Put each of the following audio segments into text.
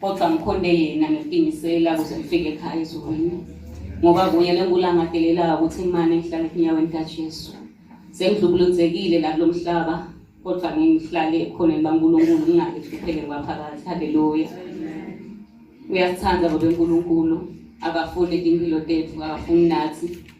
kodwa ngikhonde yena ngiqinisela ukuthi ngifike ekhaya ezulwini ngoba kunye lengulangadelelayo ukuthi imane ngihlale enyaweni kajesu sengidlubuluzekile nakulo mhlaba kodwa ngihlale ekhoneni bankulunkulu ngingale kuphele kwaphakathi haleluya uyasithanda bobenkulunkulu akafuni impilo tethu akafuni nathi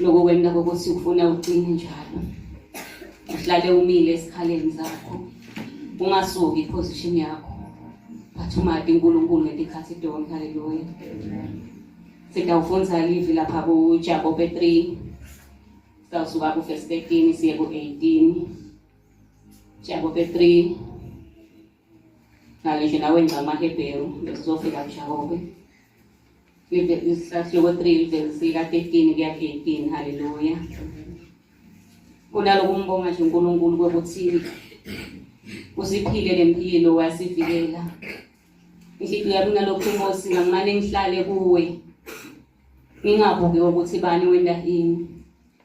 Lokho kwenta kokuthi ufuna ucine njalo. Uhlale umile esikhaleni zakho. Ungasuki iposition yakho. But umadi uNkulunkulu ngesikhathi donke haleluya. Sitawufundza livi lapha ku Jakobe 3. Sitawusuka ku verse 13 siye ku 18. Jakobe 3 ngale ndlela wenza amahebheru bezizofika mjakobe isihloko 3 livesi sika-13 kuya 18 haleluya kunaloko umbonga nje unkulunkulu kokuthi usiphile le mpilo wasivikela inhliziyo yami ngalokhu inkosi ngangimane ngihlale kuwe ngingabuki ukuthi bani wenda ini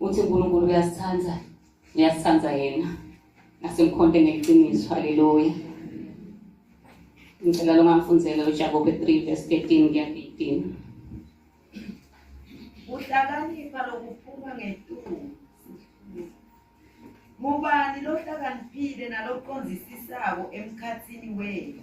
uthi uNkulunkulu uyasithanda uyasithanda yena asimkhonte ngeqiniso haleluya ngicela lo ngamfundzela uJakobe 3 verse 13 kuya 18 uhlakanipha lokuphuma ngetulo ngubani lohlakaniphile naloqondisisako emkhathini wenu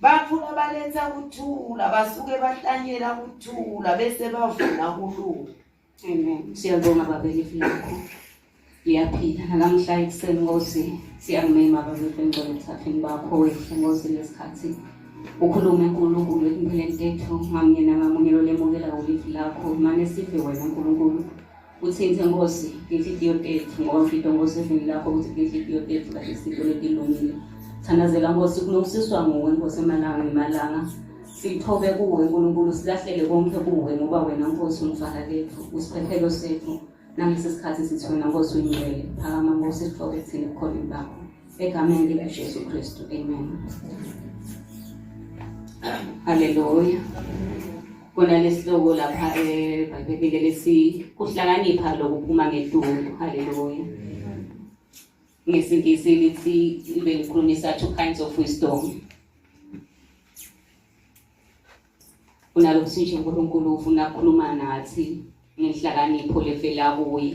Baphuma baletha ukuthula, basuke bahlanyela ukuthula bese bavuna kulunga. Amen. Siyabonga babeke filakho. Ngiyaphila nalamhla ekuseni Nkosi. Siyakungema babeke ngcwele emthatheni bakho wethu Nkosi lesikhathi. Ukhulume uNkulunkulu empilweni yethu ngamunye nangamunye lolemukela ulivi lakho mane sive wena Nkulunkulu. Uthinte Nkosi ngenhliziyo tethu ngoba mfito Nkosi evini lakho ukuthi ngenhliziyo tethu kahle isinto letilungile. Thandazela Nkosi kulungisiswa nguwe Nkosi emalanga ngemalanga. Sithobe kuwe Nkulunkulu silahlele konke kuwe ngoba wena Nkosi umfaka lethu usiphephelo sethu nangesi sikhathi sithi wena Nkosi uyingcwele phakama Nkosi sithobe thina khona bakho egameni likaJesu Kristu amen. Hallelujah. kona lesihloko lapha ebhayibhelini lesi kuhlakanipha lokuphuma ngeduku haleluya ngesingisi lithi libe likhulumisa two kinds of wisdom kunalokuthi nje unkulunkulu ufuna kukhuluma nathi ngenhlakanipho levela kuye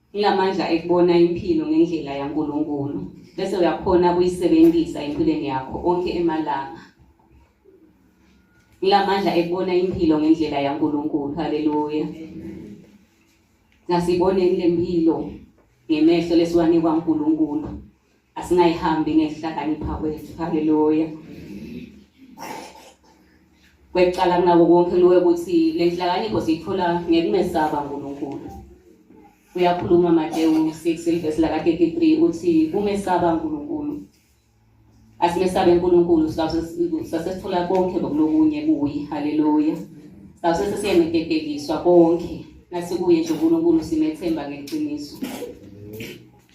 Ngilamandla ekubona impilo ngendlela yaNkulunkulu bese uyakhona ukuyisebenzisa empilweni yakho onke emalanga. Ngilamandla ekubona impilo ngendlela yaNkulunkulu. Haleluya. Ngasiboneni lempilo ngemehlo lesiwanikwa uNkulunkulu. asingayihambi ngekuhlakanipha kwethu haleluya kwecala kunako konke luwe ukuthi le nhlakanipho siyithola ngekumesaba unkulunkulu uyakhuluma matewu 6 elivesi laka-33 uthi kumesaba unkulunkulu asimesabe unkulunkulu sasesithola konke bokulokunye kuye haleluya sase sesiyenetetekiswa konke nasikuye nje unkulunkulu simethemba ngeqiniso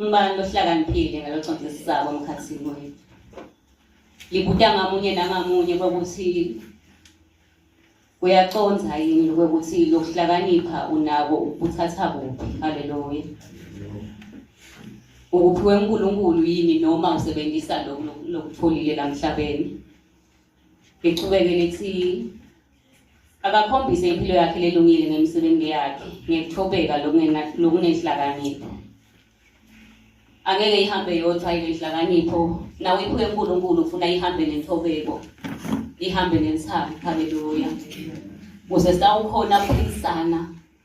Ngibani lohlakaniphile ngaloconsi esisabo emkhathini wethu? Libuta ngamunye nangamunye kokuthi uyaconza yini lokuthi lokuhlakanipha unako ukuthatha kuphi. Haleluya. Ukuphiwe uNkulunkulu yini noma usebenzisa lokutholile la mhlabeni? Liqhubeke lithi akakhombise impilo yakhe lelungile ngemisebenzi yakhe ngekuthobeka lokunenhlakanipho angeke ihambe yodwa inenhlakanipho nawe iphuke uNkulunkulu ufuna ihambe nenthobeko ihambe nensapho haleluya kuze sawukhona ukuphikisana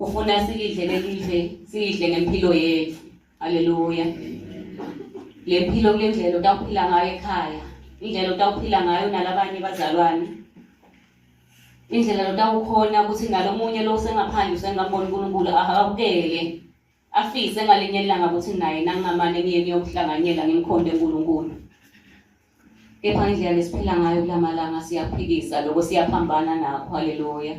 ufuna silidle lelidle sidle ngempilo yethu haleluya le mpilo kule ndlela utawuphila ngayo ekhaya indlela utawuphila ngayo nalabanye bazalwane indlela lotawukhona ukuthi nalomunye lo usengaphandle usengambona unkulunkulu akabukele afise ngalinye ilanga ukuthi naye nangingamane ngiye niyokuhlanganyela ngimkhonde unkulunkulu Kepha ngendlela lesiphila ngayo kulamalanga siyaphikisa lokho siyaphambana nakho haleluya.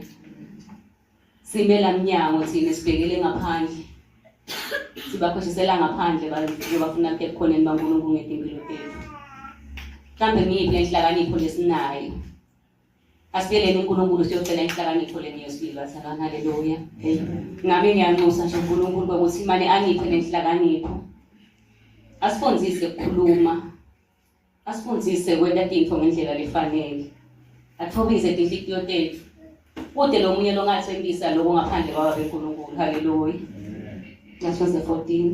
Simela mnyango thina sibhekele ngaphandle. Sibakhohlisela ngaphandle bafuna kuthi ekhoneni baNkulunkulu ngempilo yethu. Mhlambe ngiyiphi inhlakanipho lesinayo asibeleni uNkulunkulu siyocela inhlakanipho leni yesibili bathandwa haleluya ngami ngiyanxusa nje uNkulunkulu ukuthi imane angiphe nenhlakanipho asifundise ukukhuluma asifundise kwenta tintfo ngendlela lefanele athobise tinhliziyo tethu kude lo munye longathembisa loko ngaphandle kwaba benkulunkulu haleluya ngasho ze-14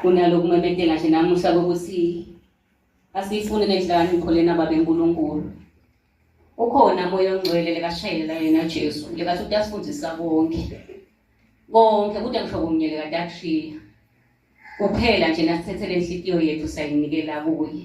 kunaloku memedela nje namuhla kokuthi asiyifune le nhlakanipho lena babe nkulunkulu ukhona moya ongcwele lekashayelela yena jesu lekathi utasifundisa konke konke kude ngisho kunye lekatashiya kuphela nje nasithethele inhlikiyo yethu sayinikela kuye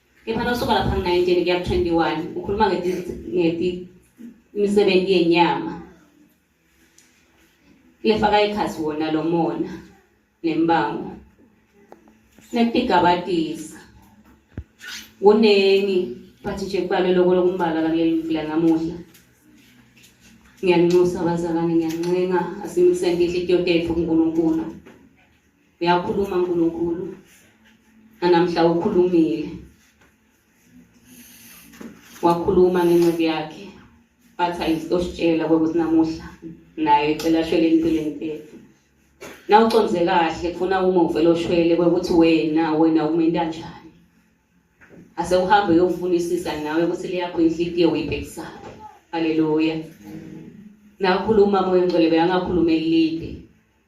Kepha nawusuka lapha ku-19 kuya ku-21 ukhuluma ngemisebenzi yenyama lefaka ikhasi wona lo mona nembango nekutigabatisa kuningi but nje kubalwe loko lokumbala kaleli mvula namuhla ngiyaninxusa abazalwane ngiyancenga asimukiseni inhliziyo tethu kunkulunkulu uyakhuluma uNkulunkulu nanamhla ukhulumile wakhuluma ngenceku yakhe wathi ayisitositshela kwekuthi namuhla nayo icela ashwele empilweni tethu nawuconze kahle kufuna uma uvele oshwele kwekuthi wena wena umenta njani ase uhambe uyokufunisisa nawe ukuthi leyakho inhliziyo uyibhekisaphi haleluya nakhuluma moya ngcwele beyangakhuluma elide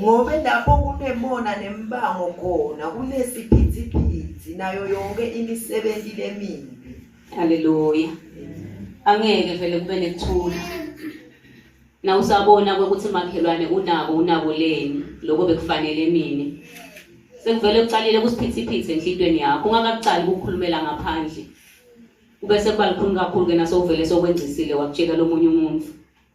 ngobe lapho kunemona nembango khona kunesiphithiphithi nayo yonke imisebenzi lemibi haleluya angeke vele kube nekuthula na usabona ukuthi makhelwane unako unako leni lokho bekufanele mina sekuvele kucalile kusiphithiphithi enhlitweni yakho ungakakucali ukukhulumela ngaphandle kube sekuba likhulu kakhulu-ke nasowuvele sokwenzisile wakutshela lomunye umuntu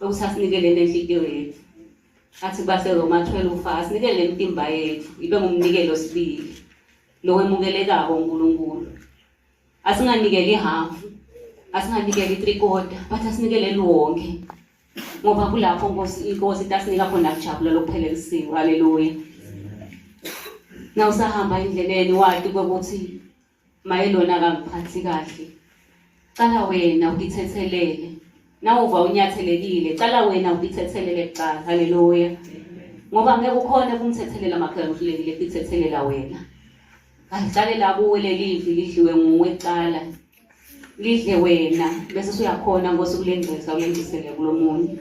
ukuthi asinikele nenhliziyo yethu athi baseroma 12 ufa asinikele imitimba yethu ibe ngumnikelo sibili lokwemukelekako unkulunkulu asinganikeli ihafu asinganikeli i-three quarter but asinikeleli wonke ngoba kulapho nkosi inkosi itasinika khona kujabula lokuphelelisiwe haleluya na usahamba endleleni wati ukuthi maye lona akangiphathi kahle cala wena ukithethelele nawuva unyathelekile cala wena ukithethelele kuqala haleluya ngoba ngeke ukhone kumthethelela makhaya uhlulekile kuthethelela wena ahlale la kuwe lelivi lidliwe nguwe cala lidle wena bese usuyakhona ngosuku lengcisa ulendisele kulomunye